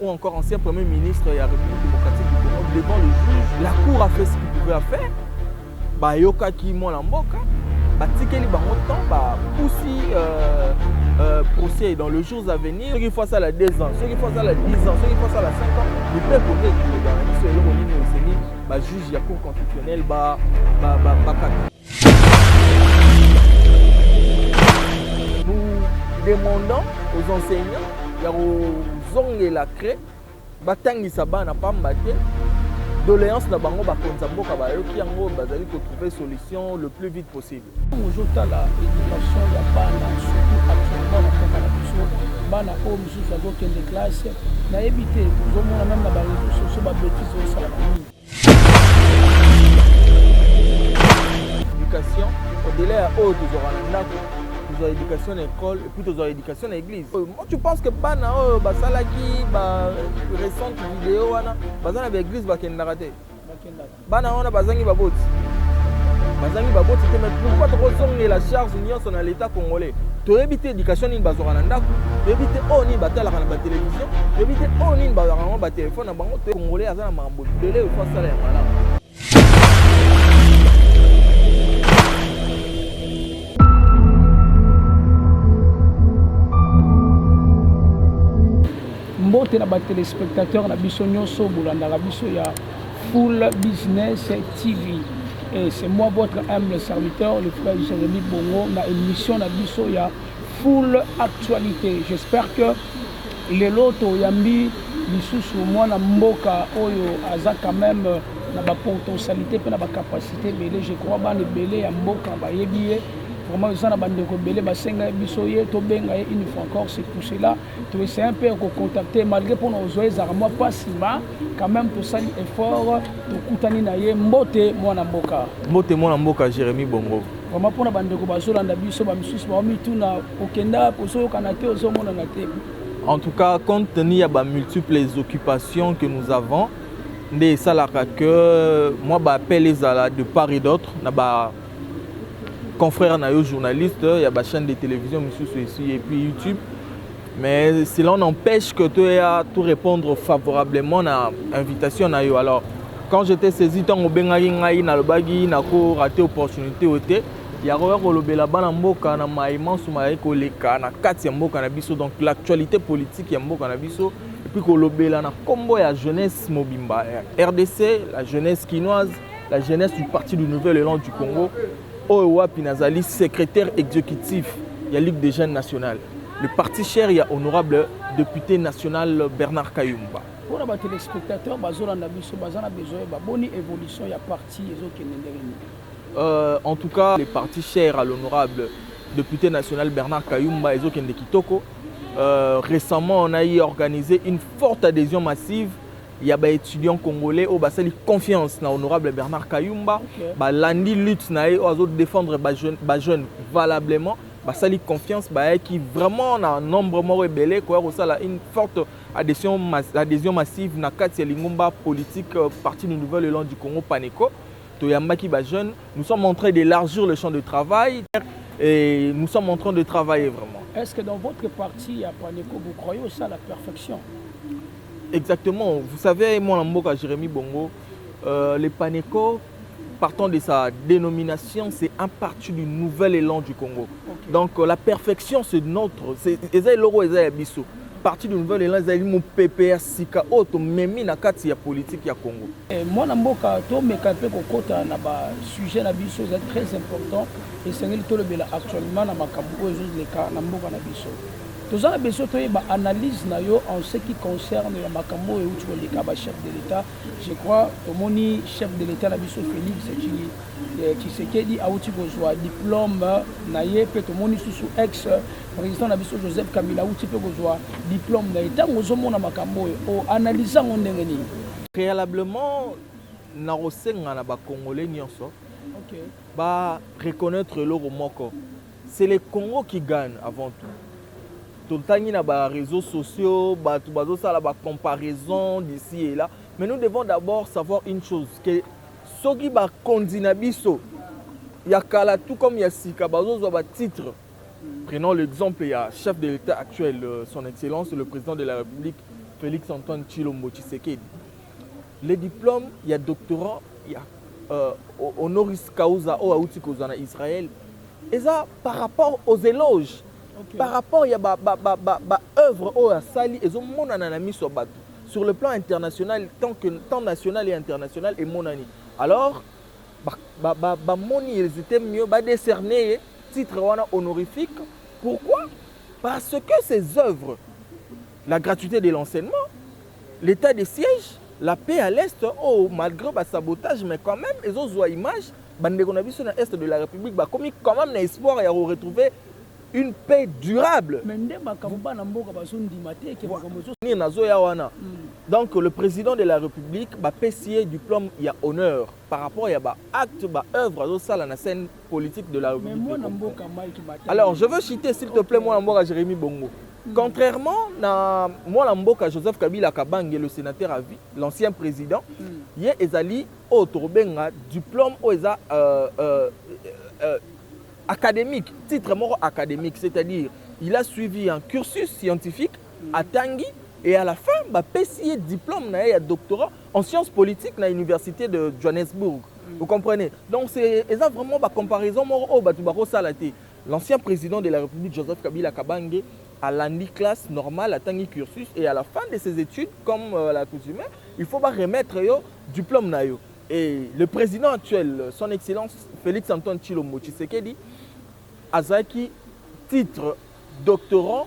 ou encore ancien premier ministre ya République démocratique du Congo devant le juge. La cour a fait ce qu'il pouvait à faire. Bayokaki mwana mboka, batikeli bango temps, bapusi euh, euh, procès dans le jours à venir. Soki fois asala 2 ans, soki fois asala 10 ans, soki fois asala 5 ans, le peuple oyo ekoloba na biso eloko nini esengeli bajuge ya cour constitutionnelle bakata. Ba, ba, ba demandant aux enseignants ya kozongela cre batangisa bana pamba te doléance na bango bakonza mboka bayoki yango bazali kotrouve solution le plus vite possible ozotala éducation ya bana surtout actuellement na mboka na biso bana oyo mosusu bazokende classe nayebi te ozomona meme na bareseau sociaux babetise osalaka nini Education, au-delà ya oyo tozwaka na ndako tozwa education na école epuis tozwa education na église euh, moi tu pense que bana oyo basalaki ba récente video wana baza na baeglise bakendaka te bana wana bazangi baboti bazangi baboti te mais pourquoi tokozongela charge nyonso na l'état congolais toyebi te éducation nini bazwaka na ndako toyebi te oyo nini batalaka na batelevizio toyebi te oyo nini bazwaka yango batelefone na bango congolais aza na mbote na batelespectateur na biso nyonso bolandaka biso ya full business tv et c'est moi votre humble serviteur le frère jérémi bongo na émission na biso ya Full actualite j'espère que lelo to yambi lisusu mwana mboka oyo aza quand même na ba potentialite pe na ba capacité ebele je crois bana ebele ya mboka bayebi ye vraiment eza na bandeko ebele basenga ye biso ye tobenga ye une fois encore c'est pour cela toessaye mpe ya kocontacte malgré mpona ozwa ezalaka mwa mpasi ma quand même tosali effort tokutani na ye mbote mwana mboka mbote mwana mboka jérémi bongo Vraiment pona ba ndeko bazolanda biso ba misusu ba mituna okenda kozoyokana te ozomonana te. En tout cas, compte tenu ya ba multiples occupations que nous avons, nde esalaka que moi ba appel ezala de part et d'autre na ba confrères na yo journalistes ya ba chaînes de télévision misusu ici et puis YouTube Mais cela n'empêche que tu as tout répondre favorablement à l'invitation. Alors, quand j'étais saisi, tant au Bengari, Ngaï, Nalobagi, Nako, raté opportunité, oté. yakoya kolobela bana mboka na mai manso mayaki koleka na kati ya mboka na biso donc l'actualité politique ya mboka na biso epuis kolobela na nkombo ya jeunesse mobimba ya rdc la jeunesse kinoise la jeunesse du parti du nouvel élan du congo Oyo wapi nazali secretaire executif ya Ligue des jeunes nationale, le parti cher ya honorable depute national Bernard Kayumba. Mpo na ba telespectateurs bazolanda biso baza na besoin yeba boni evolution ya parti ezokende ndenge nini? Euh, en tout cas, le parti cher à l'honorable député national Bernard Kayumba et Zokende Kitoko, euh, récemment, on a eu organisé une forte adhésion massive ya ba etudiants congolais oyo basali confiance na honorable Bernard Kayumba okay. balandi lutte na ye oyo azo défendre ba jeune, ba jeune valablement basali confiance bayaki vraiment na nombre moko ebele koya kosala une forte adhésion, adhésion massive na kati ya lingomba politique euh, parti du nouvel élan du Congo Paneco toyambaki ba jeunes nous sommes en train d'élargir le champ de travail et nous sommes en train de travailler vraiment est-ce que dans votre parti ya Paneco vous croyez au ça la perfection Exactement. Vous savez, moi, en Mboka, Jérémy Bongo, euh, les Paneco, partant de sa dénomination, c'est un parti du nouvel élan du Congo. Okay. Donc, euh, la perfection, c'est notre. C'est Eza Loro, Eza Bisso. Parti du nouvel élan, Eza Limo PPR, Sika, Oto, Memi, Nakati, ya politique, ya Congo. Eh, moi, en Mboka, to me kape ko kota na ba sujet na biso, c'est très important. Et c'est le bela actuellement na makambo, les cas, na Mboka na biso. Toza na besoin toyeba analyse na yo en ce qui concerne ya makambo oyo euti koleka ba chef de l'État. Je crois tomoni chef de l'État na biso Félix eh, Tshisekedi auti kozwa diplôme na ye mpe tomoni susu ex président na biso Joseph Kabila auti mpe kozwa diplôme na ye. Ntango ozomona makambo oyo o analyse yango ndenge nini? Préalablement nakosenga na bakongole nyonso okay. ba reconnaître eloko moko C'est le Congo qui gagne avant tout. Totangi na ba réseaux sociaux, bato bazosala ba comparaison d'ici et là, mais nous devons d'abord savoir une chose que soki bakonzi na biso ya kala tout comme ya sika bazozwa ba titre prenons l'exemple ya chef de l'état actuel euh, son excellence le président de la république félix antoine tshilombo tshisekedi Le diplome ya doctorat ya euh, honoris causa oyo awuti kozwa na Israël eza par rapport aux éloges okay. par rapport ya ba, ba, ba, ba, ba œuvre oyo asali ezomonana na miso ya bato sur le plan international tant que tant national et international emonani alors bamoni ba, ba, ba ils étaient mieux badécerner ye titre wana honorifique pourquoi parce que ces œuvres La gratuite de l'enseignement, l'etat de siège, la paix à l'est oyo malgre ba sabotage mais quand même ezo zua image ba ndeko na biso na est de la République ba komi quand même na espoir ya ko retrouver une paix durable. Mais nde makambo bana mboka bazo ndima te ke makambo ezo Ni nazo ya wana. Donc le président de la République ba pesi ye diplôme ya honneur. par rapport ya ba actes ba œuvres azosala na scène politique de la République de Congo. Alors je veux citer s'il te plaît mwana mboka Jérémy Bongo. Mm. Contrairement na mwana mboka Joseph Kabila Kabange le sénateur à vie, l'ancien président, mm. ye ezali oyo tokobenga diplôme oyo eza euh, euh, euh, académique, titre moko académique, c'est-à-dire il a suivi un cursus scientifique atangi et à la fin ba pesi ye diplome na ye ya doctorat en sciences politiques na universite de Johannesburg vous comprenez donc c'est eza vraiment ba comparaison moko oyo batu bako sala te l'ancien président de la République Joseph Kabila Kabange alandi classe normale atangi cursus et à la fin de ses études comme euh, la coutume il faut ba remettre yo diplôme na yo et le président actuel son excellence Félix Antoine Tshilombo Tshisekedi azaki titre doctorant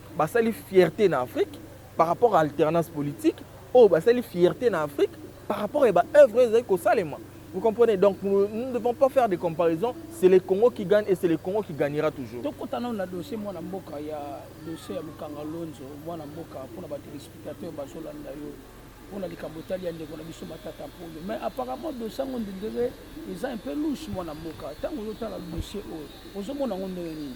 Basali fierte na Afrique par rapport à alternance politique oyo basali fierte na Afrique par rapport ya ba œuvres oyo ezali kosalema. Vous comprenez? Donc nous ne devons pas faire des comparaisons, c'est le Congo qui gagne et c'est le Congo qui gagnera toujours. Tokota nano na dossier mwana mboka ya dossier ya Mukanga Lonzo mwana mboka mpona ba téléspectateurs bazolanda yo mpona likambo etali ya ndeko na biso Matata Mponyo mais apparemment dossier yango ndendele eza un peu louche mwana mboka ntango ozotala dossier oyo ozomona yango ndenge nini?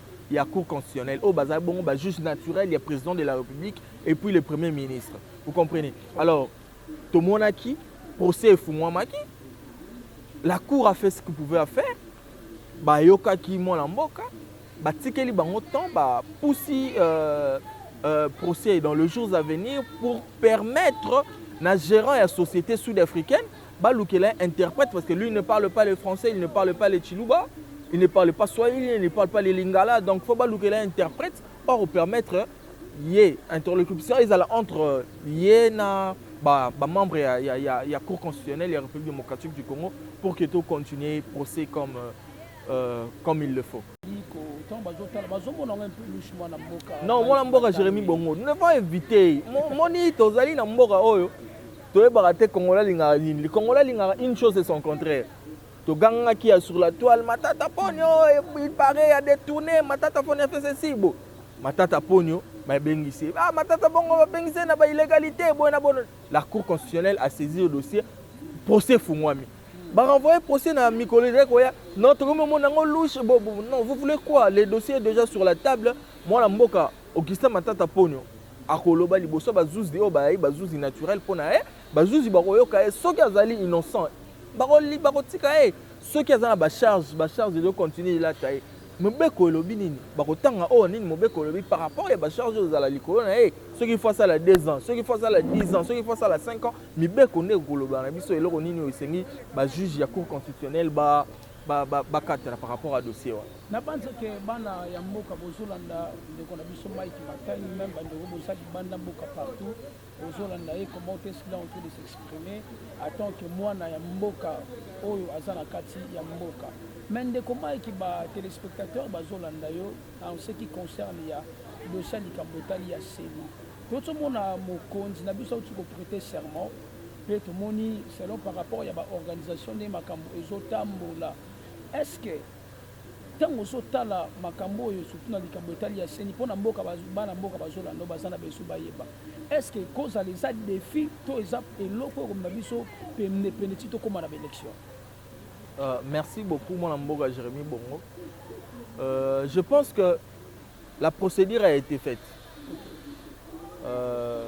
ya cour constitutionnelle oyo bazali bongo ba juge naturel ya président de la république et puis le premier ministre vous comprenez alors tomonaki procès efungwamaki la cour a fait ce que pouvait faire bayokaki mwana mboka batikeli bango temps bapusi euh, euh, procès dans le jours à venir pour permettre na gérant ya société sud-africaine Balukela ye interprète parce que lui ne parle pas le français, il ne parle pas le tshiluba, il ne parle pas swahili, il ne parle pas le lingala, donc faut balukela ye interprète or permettre ye interlocution ezala entre ye na ba, ba membre ya, ya, ya, ya cour constitutionnelle ya république démocratique du congo pour que to continuer procès comme, euh, euh comme il le faut non mwana mboka jérémi bongo ne pas éviter moni tozali na mboka oyo toyebaka te congolais alingaka nini le congolais alingaka une chose et son contraire togangaki ya sur la toile matata ponio il paraît ya détourné matata ponio afe ceci bo matata ponio babengisi ah matata bongo babengisi na ba illégalité boye na bono la cour constitutionnelle a saisi le dossier procès fungwami barenvoye procès na mikolo ezali koya non tokomi omona yango louche bo non vous voulez quoi le dossier est déjà sur la table mwana mboka Augustin Matata Ponyo akoloba liboso bazuzi oyo bayai bazuzi naturel mpo na ye bazuzi bakoyoka ye soki azali innocent bakotika ye soki aza na bacharge bacharge ezo continue elata ye mobeko elobi nini bakotanga oyo oh, nini mobeko elobi par rapport ya bacharge oyo ezala likolo na ye soki fo asala 2 ans soki fo asala 10 ans soki fo asala 5 ans mibeko nde ekoloba na biso eloko nini oyo esengi bajuge ya cour constitutionnelle ba bakatana par rapport à dossier wana nabanza ke bana ya mboka bozolanda ndeko na biso mike matani meme bandeko boza libanda mboka partout bozolanda ye comment est-ce qu'il est en train de s'exprimer en tant que mwana ya mboka oyo aza na kati ya mboka mais ndeko mike ba téléspectateur bazolanda yo en ce qui concerne ya dossier likambo etali ya seni tozomona mokonzi na biso auti koprete serment Mpe tomoni selon par rapport ya ba organisation ndenge makambo ezotambola est ce que ntango ozotala makambo oyo surtout na likambo etali ya seni mpo na mboka bana mboka bazolanda baza na besu bayeba estce kozala eza defi to eza eloko ekomema biso pendepende ti tokóma na baélection euh, merci beaucoup mwana mboka jérémi bongo euh, je pense que la procédure a été faite euh,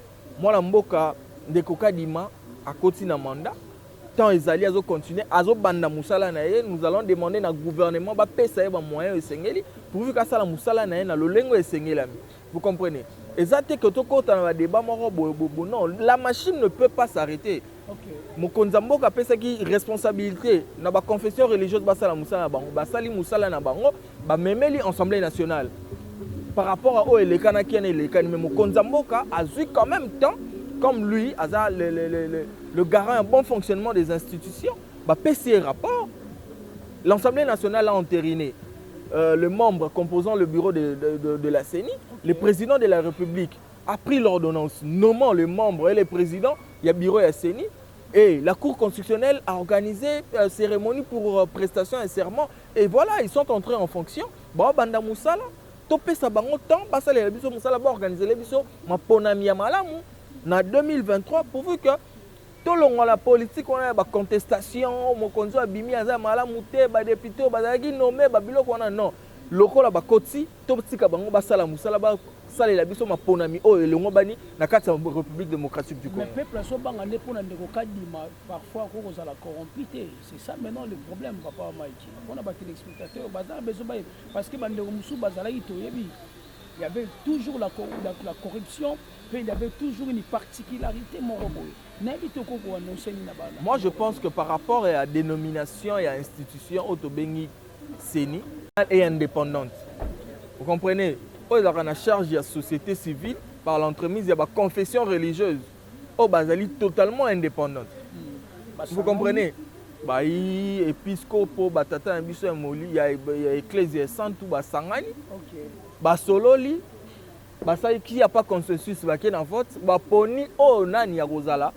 Mwana mboka ndeko Kadima akoti na mandat temps ezali azo continuer azo banda musala na ye nous allons demander na gouvernement ba pesa ye ba moyens esengeli pourvu ka sala musala na ye na lolengo esengelami vous comprenez eza te que tokota na ba débat moko boye boye non la machine ne peut pas s'arrêter Mokonzi ya mboka apesaki responsabilite na ba confession religieuse basala mosala na bango, basali mosala na bango, bamemeli Assemblée nationale par rapport à oyo elekanaki yana elekani, mais mokonzi ya mboka azwi quand même temps comme lui aza le, le, le, le, le garant ya bon fonctionnement des institutions bapesi ye rapport l'assemblée nationale a entériné euh, le membre composant le bureau de, de, de, de la CENI le président de la république a pris l'ordonnance nommant le membre et le président ya bureau ya CENI et la Cour constitutionnelle a organisé euh, cérémonie pour euh, prestation et serment et voilà ils sont entrés en fonction ba banda musala to pesa bango temps ba sala biso musala ba organiser les biso maponami ya malamu na 2023 pourvu que tolongola la politique on a ba contestation mokonzi abimi aza malamu te ba député bazalaki nommé ba biloko wana non lokola bakoti Totika bango basala musala ba salela biso maponami oyo elongobani na kati ya République démocratique du Congo. Mais peuple aso banga nde pona ndeko Kadima parfois ko kozala corrompu te. C'est ça maintenant le problème papa Mike. Pona ba téléspectateurs bazala besoin ba parce que ba ndeko musu bazalaki toyebi il y avait toujours la, la, la corruption, puis il y avait toujours une particularité moroboye. Moi, je pense que par rapport à la dénomination et à l'institution, Otobengi ceni et independante vous comprenez oyo ezalaka na charge ya société civile par l'entremise ya baconfession religieuse oyo bazali totalement indépendante vous comprenez bayi episkopo batata na biso ya moli ya, ya eklezia ya santu basangani okay. basololi basaliki ya pa consensus bake na vote baponi oyo oh, nani ya kozala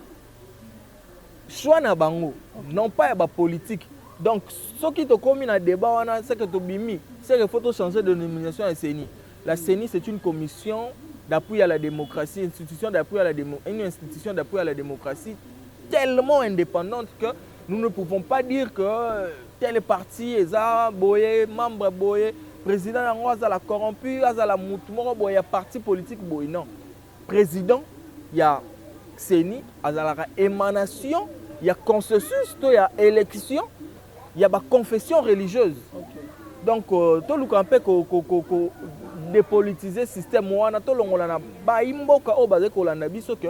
Choix na bango non pas ya ba politique donc soki tokomi na debat wana c'est que tobimi c'est que faut to changer de nomination ya CENI la CENI c'est une commission d'appui à la démocratie institution d'appui à la démo une institution d'appui à la démocratie tellement indépendante que nous ne pouvons pas dire que euh, telle partie eza boye membre boye président yango azala corrompu azala mutu moko boye ya parti politique boye non President ya CENI azalaka emanation ya consensus to ya election ya ba confession religieuse okay. donc euh, toluka mpe ko, ko, ko, ko dépolitiser système wana tolongola na bayi mboka oyo bazali kolanda biso ke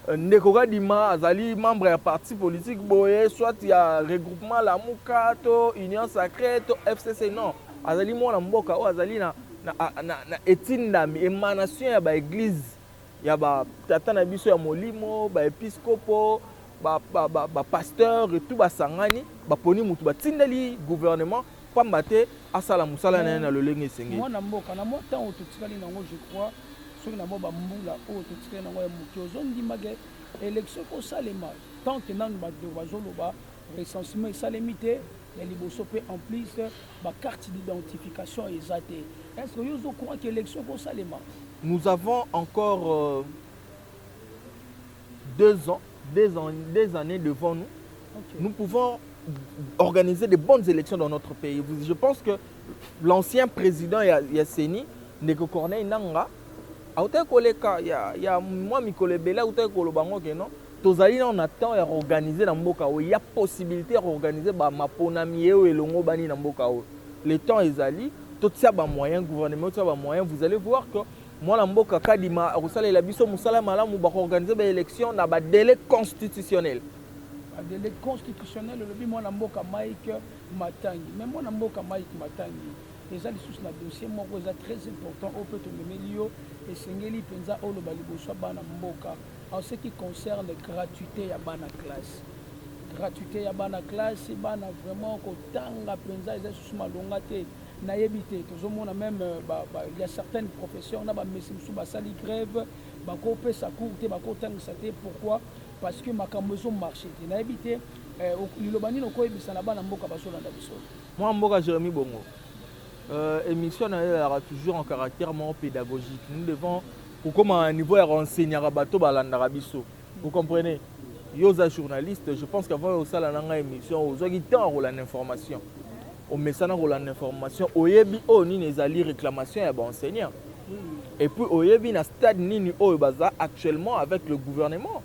euh, ndeko kadima azali membre ya parti politique boye soit ya regroupement lamuka to union sacré to fcc non Azali mwana mboka oyo azali na, na, na, na etindami emanation ya baeglize ya batata na biso ya molimo baepiskopo bapasteur ba, ba, ba tout basangani baponi motu batindeli gouvernement mpamba te asala mosala na ye na lolenge esengeli mwana mboka na mwa ntango totikali nango je crois soki na mwa bambula oyo totikali nango ya moke ozondimake élection ekosalema tant que nanu bato bazoloba recensement esalemi te ya liboso mpe en plus ba carte d'identification eza te est ce que yo ozo courant ke élection ekosalema nous avons encore euh, deux ans deux, ans, deux années devant nous okay. nous pouvons organiser de bonnes élections dans notre pays je pense que l'ancien président ya, ya CENI ndeko Corneille Nanga Autaki koleka ya, ya mwa mikolo ebele, autaki koloba ngo ke non, tozali nao na temps ya koorganize na mboka oyo, ya possibilite ya koorganize ba maponami ye oyo elongobani na mboka oyo. Le temps ezali, totia ba moyens, gouvernement etia ba moyens, vous allez voir que mwana mboka Kadima akosalela biso mosala malamu, bakoorganize ba elections na ba delais constitutionnels. Ba delais constitutionnels, olobi mwana mboka Mike Matangi. Mais mwana mboka Mike Matangi, eza lisusu na dossier moko eza très important oyo mpe tomemeli yo esengeli mpenza oloba liboso ya bana mboka en ce qui concerne gratuité ya bana classe gratuité ya bana classe bana vraiment kotanga mpenza eza lisusu malonga te nayebi te tozomona meme euh, ba, ba, ya certaines professeurs na bamesi mosusu basali grève bakopesa cour te bakotangisa te pourquoi parce que makambo ezomarche te nayebi te euh, liloba nini okoyebisa na bana mboka bazolanda biso Mwana mboka Jeremy Bongo, euh, émission na yo ezalaka toujours en caractère moko pédagogique. Nous devons kokoma na niveau ya koenseignaka bato balandaka biso. Vous comprenez? Yo oza journaliste, je pense qu'avant osala na ngai émission, ozwaki temps ya kolanda information. Omesana kolanda information, oyebi oyo oh, nini ezali réclamation ya baenseignant. Et puis oyebi na stade nini oyo baza actuellement avec le gouvernement.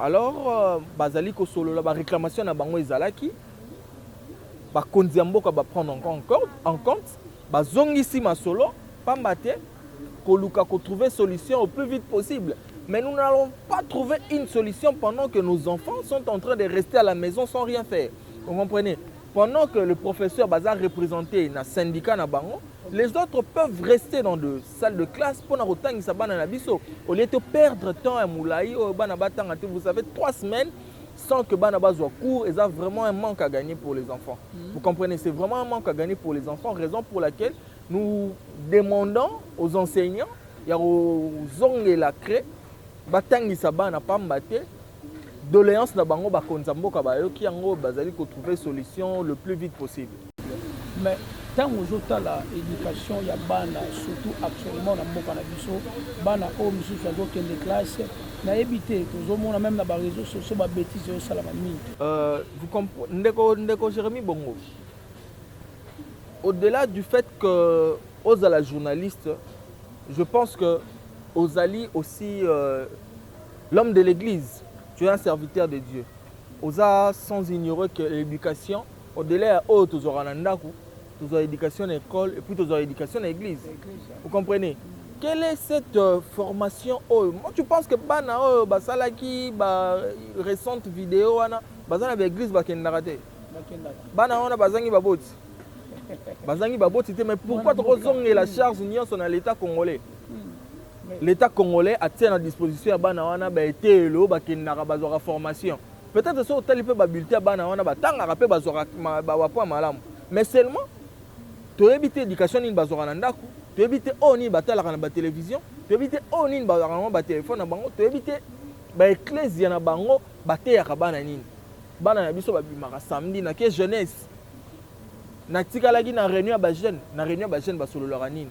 Alors euh, bazali kosolola ba reclamation na bango ezalaki bakonzi ya mboka ba prendre en compte bazongisi masolo pamba te koluka kotrouver solution au plus vite possible mais nous n'allons pas trouver une solution pendant que nos enfants sont en train de rester à la maison sans rien faire vous comprenez pendant que le professeur baza représenté na syndicat na bango les autres peuvent rester dans de salle de classe pona kotangisa bana na biso au lieu to perdre temps ya mulayi oyo bana batanga te vous avez trois semaines sans que bana bazwa cours eza vraiment un manque à gagner pour les enfants mm -hmm. vous comprenez c'est vraiment un manque à gagner pour les enfants raison pour laquelle nous demandons aux enseignants ya kozongela cre batangisa bana pamba te Doleance na bango ba konza mboka ba yoki yango ba zali ko trouver solution le plus vite possible. Mais tango ozo tala education ya bana surtout actuellement na mboka na biso bana oyo misusu azo kende classe nayebi te tozo mona meme na ba réseaux sociaux ba bêtises ezo salama mingi. Euh, vous comprenez ndeko ndeko Jérémy Bongo. Au-delà du fait que ozala journaliste, je pense que ozali aussi euh, L'homme de l'eglise tu es un serviteur de Dieu oza sans ignorer que l'education au delà ya oyo tozwaka na ndaku tozwa education na ecole et puis tozwa education na eglise vous comprenez quelle est cette euh, formation oyo moi tu penses que bana oyo basalaki ba récente vidéo wana baza na ba église bakendaka te bana wana bazangi baboti bazangi baboti te mais pourquoi tokozongela charge nyonso na l'état congolais L'etat congolais atia na disposition ya bana wana ba eteyelo bakendaka bazwaka formation peut-etre soki otali mpe ba bulletin ya bana wana batangaka mpe bazwaka ba point malamu mais seulement toyebi te education nini bazwaka na ndako toyebi te oyo nini batalaka na ba television toyebi te oyo nini bazwaka yango ba telefone na bango toyebi te ba eklezia na bango bateyaka bana nini bana na biso babimaka samedi na ke jeunesse natikalaki na réunion ya ba jeune na réunion ya ba jeune basololaka nini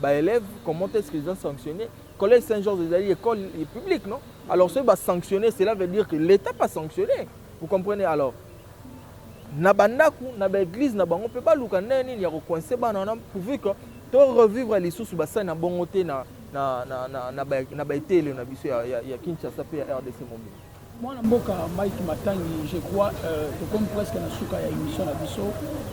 ba élèves comment est-ce qu'ils ont sanctionné collège Saint Georges ezali école publique non alors soki ba sanctionné cela veut dire que l'état pas sanctionné vous comprenez alors na bandako na baeglize na bango mpe baluka ndenge nini ya kokoinse bana wana pourvu que to revivre lisusu basali na bongo te na, na, na, na, na, na baeteelo na biso ya, ya, ya kinshasa mpe ya rdc mobimba Mwana mboka Mike Matangi, je crois euh, tokomi presque na suka ya emission na biso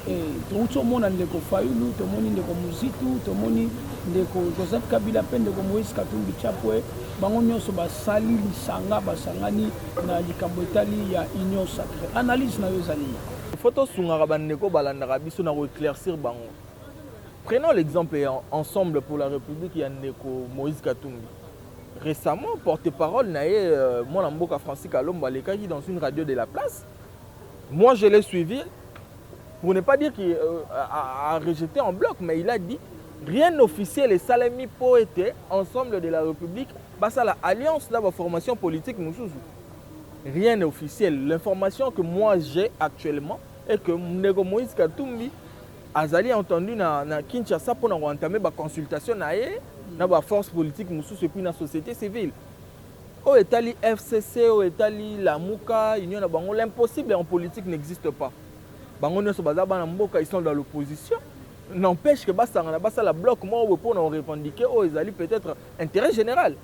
et touti omona ndeko Fayulu, tomoni ndeko Muzitu, tomoni ndeko Joseph Kabila mpe ndeko Moïse Katumbi Chapwe, bango nyonso basali lisanga, basangani na likambo etali ya union sacrée. Analyse na yo ezali nini? Faut tosungaka bandeko balandaka biso na koeclaircir bango. Prenons l'exemple ensemble pour la République ya ndeko Moïse Katumbi. Recemment, porte-parole na ye euh, mwana mboka Francis Kalombo alekaki dans une radio de la place. Moi je l'ai suivi pour ne pas dire qu'il euh, a, a rejeté en bloc mais il a dit rien officiel esalemi mpo ete ensemble de la République basala alliance na ba formation politique mosusu. Rien n'est officiel. L'information que moi j'ai actuellement est que Ndeko Moïse Katumbi Azali entendu na, na Kinshasa mpo na koentame ba consultation na ye na ba force politique mosusu epuis na société civile oyo etali FCC oyo etali Lamuka union na bango. L'impossible en politique n'existe pas. Bango nyonso baza bana mboka, ils sont dans l'opposition n'empêche que basangana basala bloc moko boye mpo na korevendiquer oyo ezali peut-être intérêt général.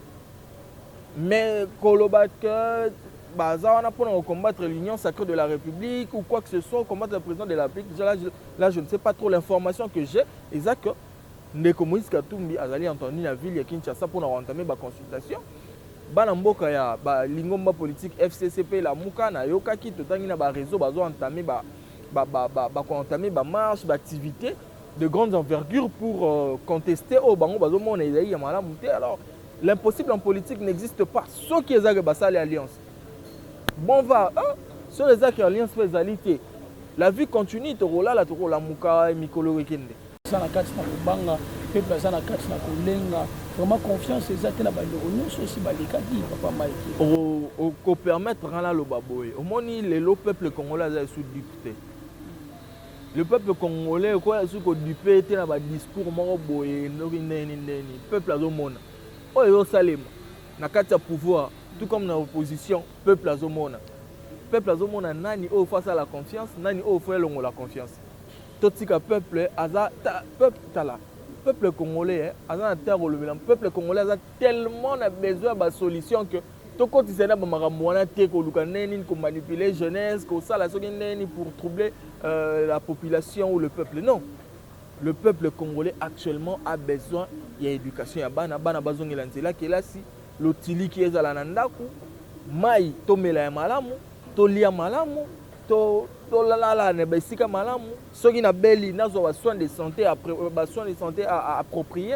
Mais koloba que baza wana pona ko combattre l'union sacrée de la République ou quoi que ce soit, combattre le président de la République, là, là je ne sais pas trop l'information que j'ai eza que ndeko Moïse Katumbi azali entendu na ville ya Kinshasa pona ko entamer ba consultations bana mboka ya ba lingomba politique FCC pe la muka na yokaki totangi na ba réseaux bazo entamer ba ba ba ba, ba ko entamer ba marche ba activité de grandes envergures pour euh, contester au bango bazo mona ezali ya malamu te alors L'impossible en politique n'existe pas. Soki eza que basali alliance. Bon va, hein? Soki eza que alliance pe ezali te. La vie continue, tokolala, tokolamuka, mikolo ekende. Eza na kati na kobanga, peuple aza na kati na kolenga. Vraiment confiance eza te na bandeko nyonso osi balekaki papa Mike. O, o ko permettre ngana loba boye. Omoni lelo peuple congolais aza sous dupe te. Le peuple congolais ko ekoya soki kodupe te na badiscours moko boye ndoki ndeni ndeni peuple azomona oyo ezosalema na kati ya pouvoir tout comme na opposition peuple azomona peuple azomona nani oyo fo asala confiance nani oyo fo elongola confiance totika peuple aza ta, peuple tala peuple congolais eh, aza na temps ya kolobela peuple congolais aza tellement na besoin ya basolution que tokotisa na bamakambo wana te koluka ndenge nini komanipule jeunesse kosala soki ndenge nini pour troubler euh, la population ou le peuple non le peuple congolais actuellement a besoin ya éducation ya bana bana bazongela nzela kelasi lotiliki ezala na ndako mai tomela ya malamu tolia malamu to tolala na baesika malamu soki nabeli nazwa basoin de santé euh, basoin de santé approprié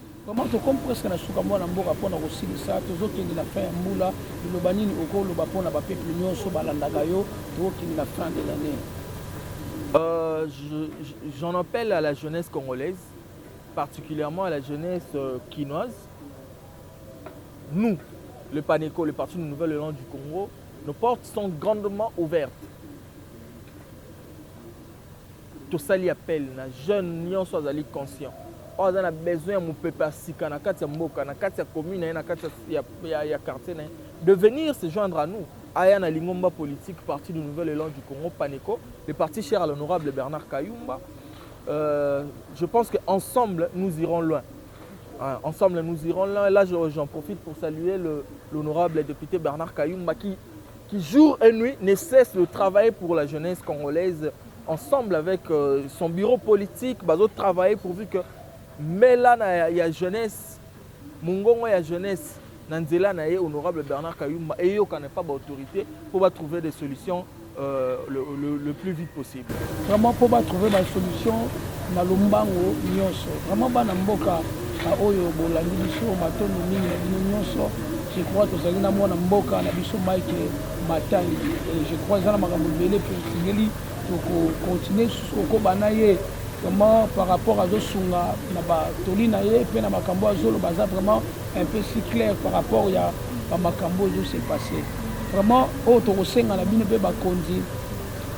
Vraiment tokomi presque na suka mwana mboka mpo na kosilisa tozokende na fin ya mbula liloba nini okoloba mpo na bapeuple nyonso balandaka yo tokokende na fin de l'année euh, j'en appelle à la jeunesse congolaise particulièrement à la jeunesse euh, kinoise nous le paneco le parti du nouvel élan du congo nos portes sont grandement ouvertes Tosali appel na jeune nionso azali conscient oyo aza na besoin ya mupepe ya sika na kati ya mboka, na kati ya commune na ye, na kati ya, ya, ya quartier na ye de venir se joindre à nous aya na lingomba politique parti du nouvel élan du Congo Paneco, le parti cher à l'honorable Bernard Kayumba. Euh, je pense que ensemble nous irons loin. Hein, ensemble nous irons loin. Là j'en profite pour saluer l'honorable député Bernard Kayumba qui qui jour et nuit ne cesse de travailler pour la jeunesse congolaise ensemble avec euh, son bureau politique bazo travailler pourvu que mela na ya, ya jeunesse mongongo ya jeunesse na nzela na ye honorable Bernard Kayumba eyokana pa ba autorité pour ba trouver des solutions euh, le, le, le plus vite possible Vraiment po ba trouver ba solution na lombango nyonso. Vraiment bana mboka oyo bolandi biso matondo mingi na bino nyonso. Je crois tozali na mwana mboka na biso Mike Matangi. Et je crois eza na makambo ebele mpe tosengeli tokokontinue lisusu kokoba na ye vraiment par rapport azosunga na batoli na ye mpe na makambo azoloba aza vraiment un peu si clair par rapport ya bamakambo oyo ezose passe vraiment oyo tokosenga na bino mpe bakonzi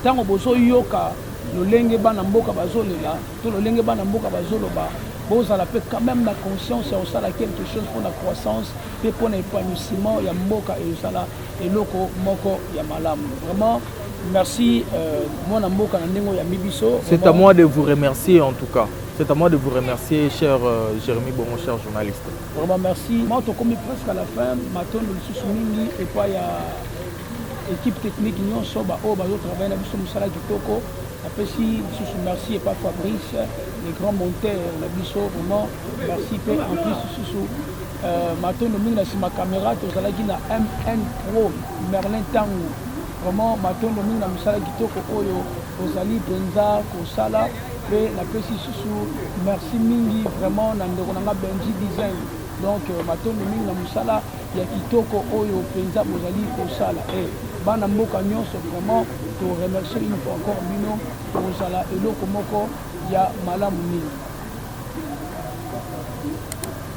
Tango bozo yoka lolenge bana mboka bazo lela to lolenge bana mboka bazo loba bozala pe quand même na conscience ya kosala quelque chose pour la croissance pe pour na épanouissement ya mboka ezala eloko moko ya malamu vraiment merci euh, mwana mboka na ndenge ya mibiso c'est à moi de vous remercier en tout cas C'est à moi de vous remercier, cher euh, Jérémy Bongo, cher journaliste. Vraiment, merci. Moi, je suis presque à la fin. Maintenant, je suis et pas à Equipe technique nionso ba oyo bazo travailler na biso musala kitoko. Napesi lisusu merci epa Fabrice le grand monteur na biso vraiment merci pe en plus lisusu euh, matondo mingi na sima camera tozalaki na MN Pro Merlin Tangu vraiment matondo mingi na musala kitoko oyo ozali mpenza kosala pe napesi lisusu merci mingi vraiment na ndeko na nga Benji Design donc euh, matondo mingi na musala ya kitoko oyo penza bozali kosala eh, bana mboka nyonso vraiment to remercier une fois encore bino kozala eloko moko ya malamu mingi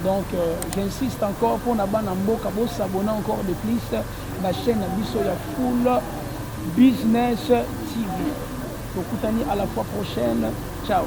donc euh, j'insiste encore mpo na bana mboka bosabona encore de plus na chaîne na biso ya full business tv tokutani à la fois prochaine ciao